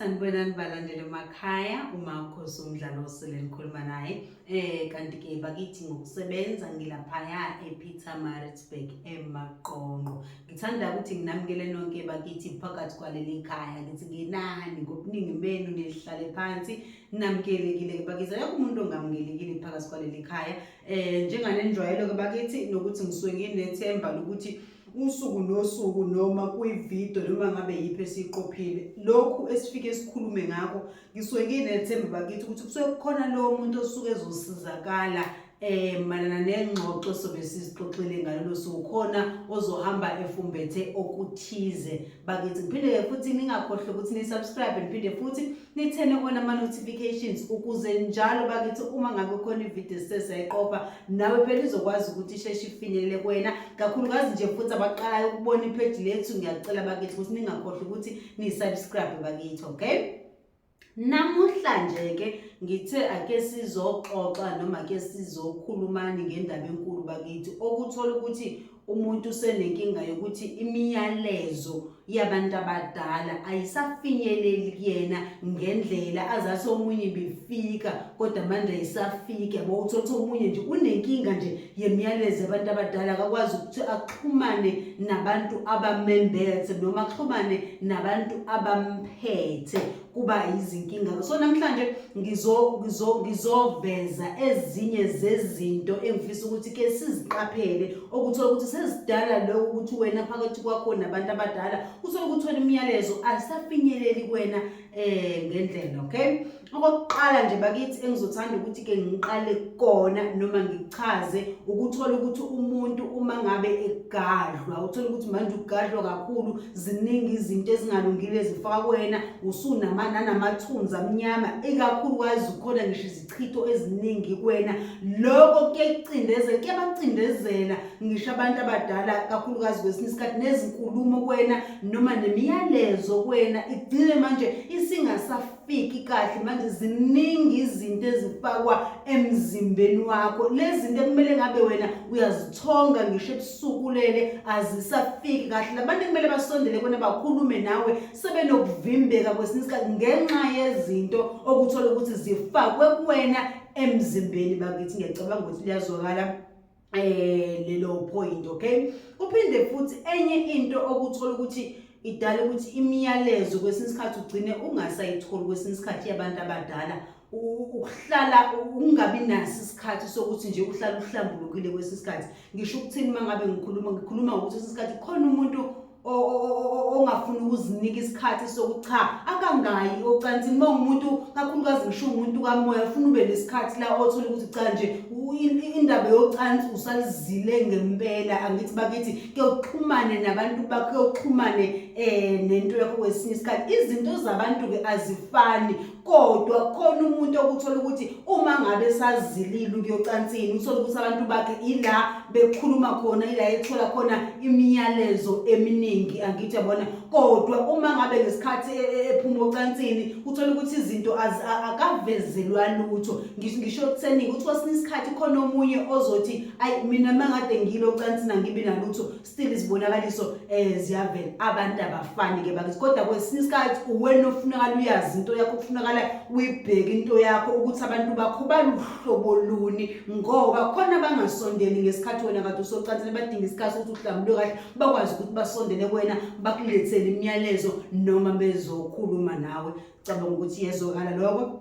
sanibonani balandele emakhaya uma ukhosi umdlalo osele nikhuluma naye eh kanti-ke bakithi ngokusebenza ngilaphaya epeter maritzburg emaqonqo ngithanda ukuthi nginamukele nonke bakithi phakathi kwaleli khaya ngithi nginani ngobuningi benu nilihlale phansi namukelekile-ke bakithi ayakho umuntu ongamukelekile phakathi kwaleli khaya eh njenganenjwayelo ke bakithi nokuthi ngisuke nginethemba lokuthi usuku nosuku noma kwividiyo noma ngabe yiphi esiyiqophile lokhu esifike sikhulume ngakho ngisuke nginethemba bakithi ukuthi kusuke kukhona lowo muntu osuke ezosizakala eh malana nengxoxo sobe sizixoxile ngalolu suku khona ozohamba efumbethe okuthize bakithi ngiphinde futhi ningakhohle ukuthi ni subscribe ngiphinde futhi nithene kona ama-notifications ukuze njalo bakithi uma ngabe khona ividiyo sisezayiqopha nawe phela izokwazi ukuthi isheshe ifinyelele kwena kakhulukazi nje futhi abaqalayo ukubona ipheji lethu ngiyacela bakithi ukuthi ningakhohlwa ukuthi niyisubscribe bakithi okay namuhla nje-ke ngithe ake sizoxoxa noma ke sizokhulumani ngendaba enkulu bakithi okuthola ukuthi umuntu usenenkinga yokuthi imiyalezo yabantu abadala ayisafinyeleli kuyena ngendlela azathi omunye bifika kodwa manje ayisafiki yabo uthola ukuthi omunye nje unenkinga nje yemiyalezo yabantu abadala akakwazi ukuthi axhumane nabantu abamembethe noma axhumane nabantu abamphethe kuba yizinkinga so namhlanje ngizoveza ezinye zezinto engifisa ukuthi ke siziqaphele okuthola ukuthi sezidala lokho ukuthi wena phakathi kwakho nabantu abadala uthole ukuthi wena imiyalezo asafinyeleli kwena eh ngendlela okay okokuqala nje bakithi engizothanda ukuthi ke ngiqale kona noma ngichaze ukuthola ukuthi umuntu uma ngabe egadlwa uthola ukuthi manje ugadlwa kakhulu ziningi izinto ezingalungile zifaka kuwena usunama nanamathunzi amnyama ikakhulukazi ukhona ngisho izichitho eziningi kuwena loko kuyacindezela kuyabacindezela ngisho abantu abadala kakhulukazi kwesinye isikhathi nezinkulumo kuwena noma nemiyalezo kuwena igcine manje isingasaf fiki kahle manje ziningi izinto ezifakwa emzimbeni wakho lezi zinto ekumele ngabe wena uyazithonga ngisho ebusukulele azisafiki kahle labantu kumele basondele kona bakhulume nawe sebenokuvimbeka kwesinye isikhathi ngenxa yezinto okuthola ukuthi zifakwe kuwena emzimbeni bakithi ngiyacabanga ukuthi liyazwakala eh lelo point okay uphinde futhi enye into okuthola ukuthi idala ukuthi imiyalezo kwesinye isikhathi ugcine ungasayitholi kwesinye isikhathi yabantu abadala ukuhlala ungabi naso isikhathi sokuthi nje uhlala uhlambulukile kwesinye isikhathi ngisho ukuthini uma ngabe ngikhuluma ngikhuluma ngokuthi kwesinye isikhathi khona umuntu ongafuni ukuzinika isikhathi sokuthi cha akangayi ocansini uma umuntu kakhulukazi ngisho umuntu kamoya ufuna ube nesikhathi la othole ukuthi cha nje indaba yocansi usalizile ngempela angithi bakithi kuyoxhumane nabantu bakho kuyoxhumane um nento yakho kwesinye isikhathi izinto zabantu-ke azifani kodwa khona umuntu okuthola ukuthi uma ngabe sazilile ukuyocansini uthole ukuthi abantu bakhe ila bekhuluma khona ila ethola khona imiyalezo eminingi angithi yabona kodwa uma ngabe ngesikhathi e, e, ephuma ocansini uthole ukuthi izinto akavezelwa lutho ngisho kuseningi ukuthi kwesinye isikhathi khona omunye ozothi ayi mina mangade ngilo ocansini angibi nalutho still izibonakaliso eh ziyavela abantu abafani ke bakithi kodwa kwesinye isikhathi uwena ofunakala uyazi into yakho kufunakala uyibheke into yakho ukuthi abantu bakho baluhlobo luni ngoba khona abangasondeli ngesikhathi wena kade usocansini badinga isikhathi ukuthi uhlambulwe kahle bakwazi ukuthi basondele kuwena bakulethele imiyalezo noma bezokhuluma nawe cabanga ukuthi yezwakala lokho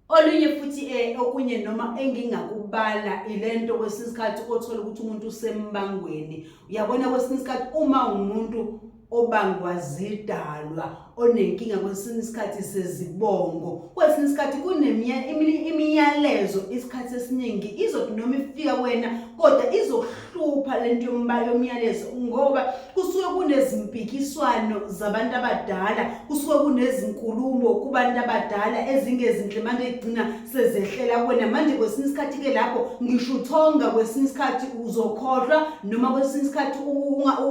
olunye futhi um okunye noma engingakubala ile nto kwesinye isikhathi othole ukuthi umuntu usembangweni uyabona kwesinye isikhathi uma umuntu obangwa zidalwa onenkinga kwesinye isikhathi sezibongo kwesinye isikhathi kunemiyalezo isikhathi esiningi izothi noma ifika kwena kodwa izokuha hlupha lento yombala yomyalezo ngoba kusuke kunezimpikiswano zabantu abadala kusuke kunezinkulumo kubantu abadala ezingezinhle manje egcina sezehlela kwena manje kwesinye isikhathi ke lapho ngisho uthonga kwesinye isikhathi uzokhohlwa noma kwesinye isikhathi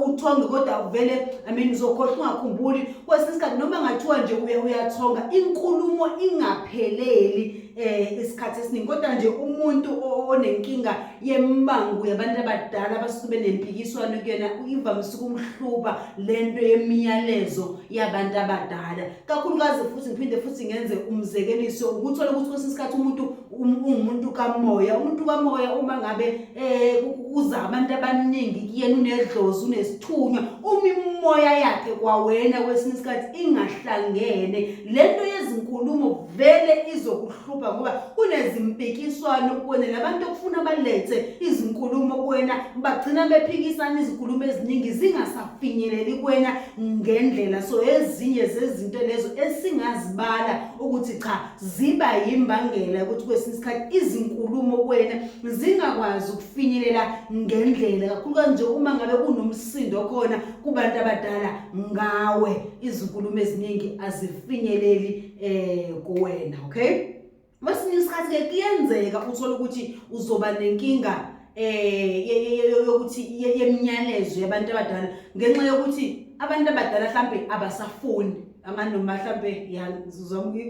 uthonge kodwa uvele i mean uzokhohlwa ungakhumbuli kwesinye isikhathi noma ngathiwa nje uye uyathonga inkulumo ingapheleli eh isikhathi esiningi kodwa nje umuntu onenkinga yembangu yabantu abadala abasuke nempikiswano kuyona ivamise ukumhluba le nto yemiyalezo yabantu abadala kakhulukazi futhi ngiphinde futhi ngenze umzekeliso ukuthola ukuthi kwesinye isikhathi umuntu um-, ungumuntu kamoya umuntu kamoya uma ngabe um uza abantu abaningi kuyena unedlozi unesithunywa uma imimoya yakhe kwawena kwesinye isikhathi ingahlangene le nto yezinkulumo vele izokuhlu Krupa ngoba unezimpikiswano kuwena labantu okufuna balethe izinkulumo kuwena bagcina bephikisana izinkulumo eziningi zingasafinyeleli kuwena ngendlela so ezinye zezinto lezo esingazibala ukuthi cha ziba yimbangela ukuthi kwesinye isikhathi izinkulumo kuwena zingakwazi ukufinyelela ngendlela kakhulu kanje uma ngabe kunomsindo khona kubantu abadala ngawe izinkulumo eziningi azifinyeleli eh kuwena okay masinye isikhathi ke kuyenzeka uthole ukuthi uzoba nenkinga eh yokuthi yemnyalezo yabantu abadala ngenxa yokuthi abantu abadala mhlambe abasafuni amanoma mhlambe ya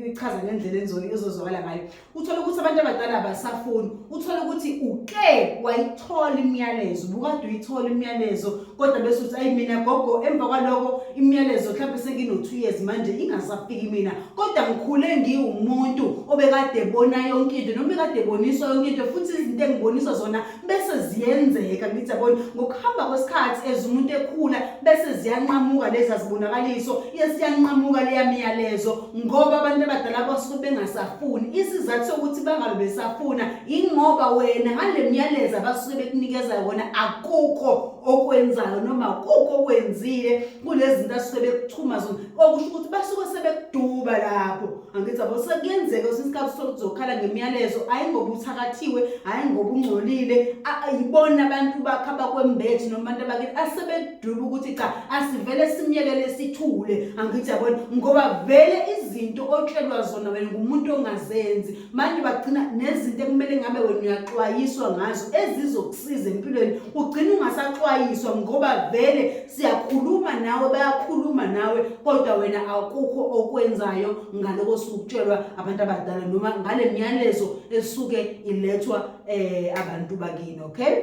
ichaza ngendlela enzoli ezozwakala ngayo uthole ukuthi abantu abadala abasafuni uthole ukuthi uke wayithola imiyalezo ubukade uyithola imiyalezo kodwa bese uthi ayi mina gogo emva kwaloko imiyalezo mhlawumbe sengino-two years manje ingasafiki mina kodwa ngikhule ngiwumuntu obekade ebona yonke into noma ekade eboniswa yonke into futhi izinto engiboniswa zona bese ziyenzeka ngithi yabona ngokuhamba kwesikhathi as umuntu ekhula bese ziyanqamuka lezi azibonakaliso yesiyanqamuka leya miyalezo ngoba abantu abadala basuke bengasafuni isizathu sokuthi bangabe besafuna ingoba wena ngale miyalezo abasuke bekunikeza yona akukho okwenzayo noma kukho okwenzile kulezinto asuke bekuchuma zona okusho ukuthi basuke sebekuduba lapho angithi yabo sekuyenzeka kwesinye isikhathi uthole ukuthi uzokhala ngemiyalezo hhayi ngoba uthakathiwe hhayi ngoba ungcolile a- a- yibona abantu bakho abakwembethe noma abantu abakini asebedube ukuthi cha asivele simyekele sithule angithi yabona ngoba vele izinto otshelwa zona wena ngumuntu ongazenzi manje bagcina nezinto ekumele ngabe wena uyaxwayiswa ngazo ezizokusiza empilweni ugcina ungasaxwayiswa ngoba vele siyakhuluma nawe bayakhuluma nawe kodwa wena akukho okwenzayo ngaloko sukutshelwa abantu abadala noma ngale myalezo esuke ilethwa eh abantu bakini okay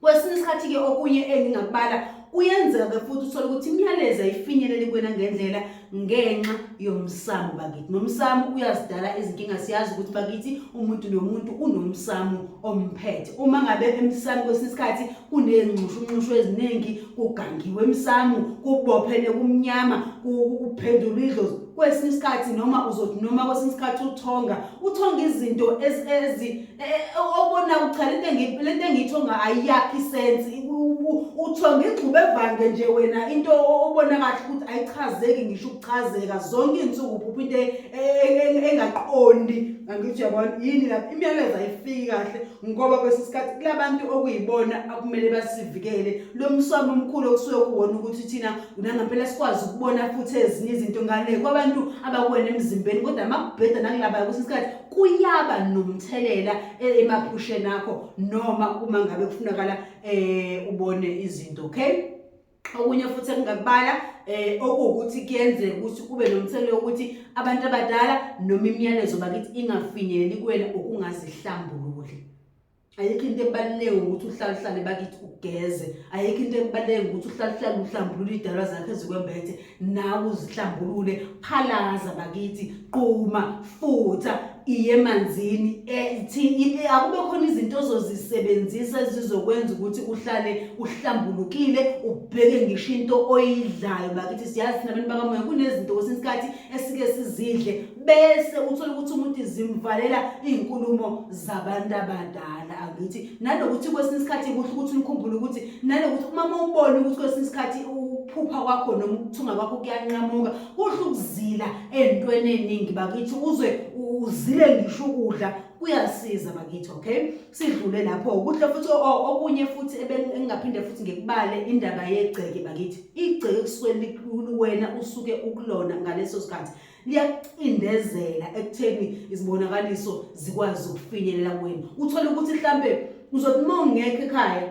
kwesinye isikhathi ke okunye engingakubala kuyenzeka futhi uthole ukuthi imyalezo ayifinyeleli kwena ngendlela ngenxa yomsamo bakithi nomsamo uyazidala izinkinga siyazi ukuthi bakithi umuntu nomuntu unomsamo omphethe uma ngabe emsamo kwesinye isikhathi kuney'nxushunxushu eziningi kugangiwe emsamo kubophene kumnyama kuphendulwa idlozi kwesinye isikhathi noma uzothi noma kwesinye isikhathi uthonga uthonga izinto ezi Eh, eh, okubona cha lento engi- lento engiyithonga ayiyakhi isensi uthonga igxuba evange nje wena into o- obona kahle ukuthi ayichazeki ngisho ukuchazeka zonke iy'nsuku phupha into e- e- e- engaqondi angithi uyabona yini lapho imiyalezo ayifiki kahle ngoba kwesinye isikhathi kulabantu okuyibona akumele basivikele lo mswami omkhulu okusuke kuwona ukuthi thina nangampela sikwazi ukubona futhi ezinye izinto ngale kwabantu abakuwena emzimbeni kodwa makubheda nakulabaya kwesinye isikhathi kuyaba nomthelela e-, emaphusheni akho noma uma ngabe kufunakala eh ubone izinto okay okunye futhi engingakubala eh okuwukuthi kuyenzeka ukuthi kube nomthelela wokuthi abantu abadala noma imiyalezo bakithi ingafinyeleli kuwena ukungazihlambululi ayikho into ebaluleke ukuthi uhlale uhlale bakithi ugeze ayikho into ebaluleke ukuthi uhlale uhlale uhlambulule idalwa zakho ezikwembethe nawe uzihlambulule phalaza bakithi quma futha iye emanzini e, akube khona izinto ozozisebenzisa ezizokwenza ukuthi uhlale uhlambulukile ubheke ngisho into oyidlayo bakithi siyazi nabantu bakamoya kunezinto kwesinye isikhathi esike sizidle bese uthola ukuthi umuntu izimvalela iy'nkulumo zabantu abadala angithi nanokuthi kwesinye isikhathi kuhle ukuthi nikhumbule ukuthi nanokuthi umama ubone ukuthi kwesinye isikhathi ukuphupha kwakho noma ukuthunga kwakho kuyanqamuka kuhle ukuzila ey'ntweni ey'ningi bakithi uze uzile ngisho ukudla kuyasiza bakithi okay sidlule lapho kuhle futhi okunye futhi engingaphinde futhi ngikubale indaba yegceke bakithi igceke kusuke likhulu wena usuke ukulona ngaleso sikhathi liyakucindezela ekutheni izibonakaliso zikwazi ukufinyelela kuwena uthole ukuthi mhlambe uzothi uma ungekho ekhaya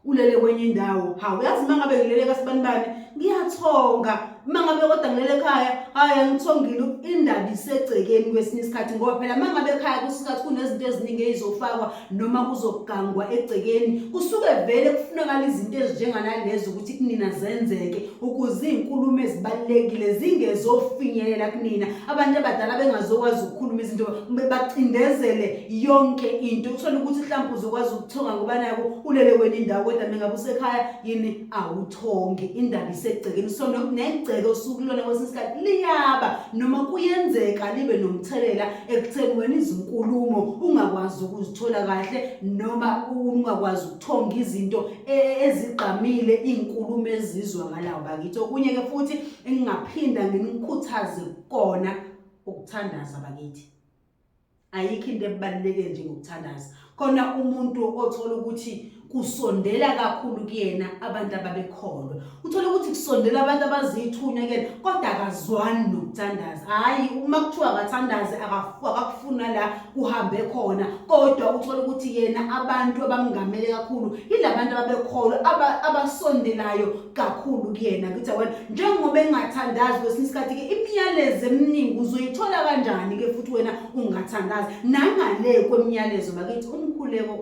ulele kwenye indawo hawu yazi uma ngabe ngilele kasibanibani ngiyathonga uma ngabe kodwa ngilele ekhaya hayi angithongile indaba isegcekeni kwesinye isikhathi ngoba phela uma ngabe ekhaya kwesinye isikhathi kunezinto eziningi ey'zofakwa noma kuzogangwa egcekeni kusuke vele kufunakala izinto ezinjenganalezo ukuthi kunina zenzeke ukuze iy'nkulumo ezibalulekile zingezofinyelela kunina abantu abadala bengazokwazi ukukhuluma izinto bacindezele yonke into uthole ukuthi mhlawumpe uzokwazi ukuthonga ngoba nako ulele kwenye indawo kodwa mengabe usekhaya yini awuthongi indaba isegcekeni so negceke osuku lona kwesinye isikhathi liyaba noma kuyenzeka libe nomthelela ekutheni wena izinkulumo ungakwazi ukuzithola kahle noma ungakwazi ukuthonga izinto e, ezigqamile iy'nkulumo ezizwakalayo bakithi okunye-ke futhi engingaphinda nginikhuthaze kona ukuthandaza bakithi ayikho into ebaluleke njengokuthandaza khona umuntu othola ukuthi kusondela kakhulu kuyena abantu ababekholwa uthole ukuthi kusondela abantu abazithunya kuyena kodwa akazwani nokuthandaza hhayi uma kuthiwa akathandaze akakufuna la kuhambe khona kodwa uthole ukuthi yena abantu abamungamele kakhulu yila bantu ababekholwa abasondelayo kakhulu kuyena kuthi wena njengoba engathandazi kwesinye isikhathi ke imiyalezo eminingi uzoyithola kanjani ke futhi wena ungathandazi nangale kwemiyalezo bakithi umkhuleko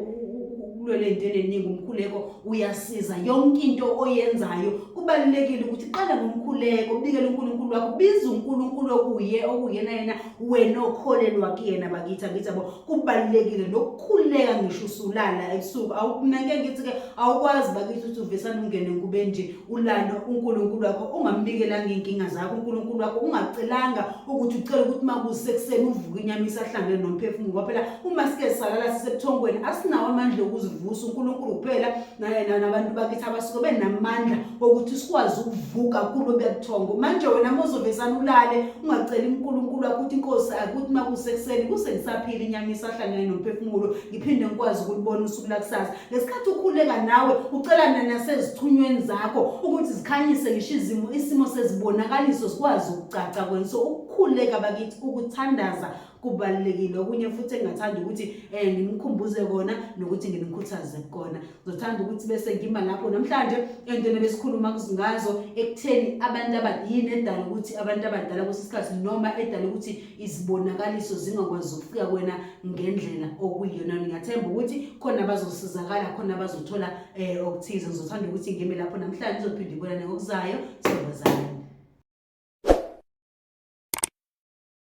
kulwele into eningi umkhuleko uyasiza yonke into oyenzayo kubalulekile ukuthi qala ngomkhuleko ubikele uNkulunkulu wakho biza uNkulunkulu okuye okuyena yena wena okholelwa kuyena bakithi angithi yabo kubalulekile nokukhuleka ngisho usulala ebusuku awukunake ngithi ke awukwazi bakithi ukuthi uvesana ungene nkube nje ulande uNkulunkulu wakho ungambikelanga inkinga zakho uNkulunkulu wakho ungacelanga ukuthi ucela ukuthi makusekuseni uvuke inyama isahlangene nomphefumulo ngoba phela uma sike salala sisebuthongweni asinawo amandla okuzivusa uNkulunkulu kuphela nayena nabantu bakithi abasuke benamandla okuthi sikwazi ukuvuka kulo bebuthongo manje wena mozovesana ulale ungaceli unkulunkulu wakho ukuthi inkosi akuthi uma kusekuseni kusengisaphile inyama isahlangene nomphefumulo ngiphinde ngikwazi ukulibona usuku lakusasa ngesikhathi ukhuleka nawe ucelana nasezithunyweni zakho ukuthi zikhanyise ngisho izimo isimo sezibonakaliso zikwazi ukucaca kwena so ukukhuleka bakithi ukuthandaza kubalulekile okunye futhi engingathanda ukuthi um ngimkhumbuze kona nokuthi ngimkhuthaze kukona ngizothanda ukuthi bese ngima lapho namhlanje entweni ebesikhuluma ngazo ekutheni abantu abadini edala ukuthi abantu abadala kwesinye isikhathi noma edala ukuthi izibonakaliso zingakwazi ukufika kwena ngendlela okuyiyona ngingathemba ukuthi khona abazosizakala khona abazothola um okuthize ngizothanda ukuthi ngime lapho namhlanje ngizophinde ibonane ngokuzayo siyobazana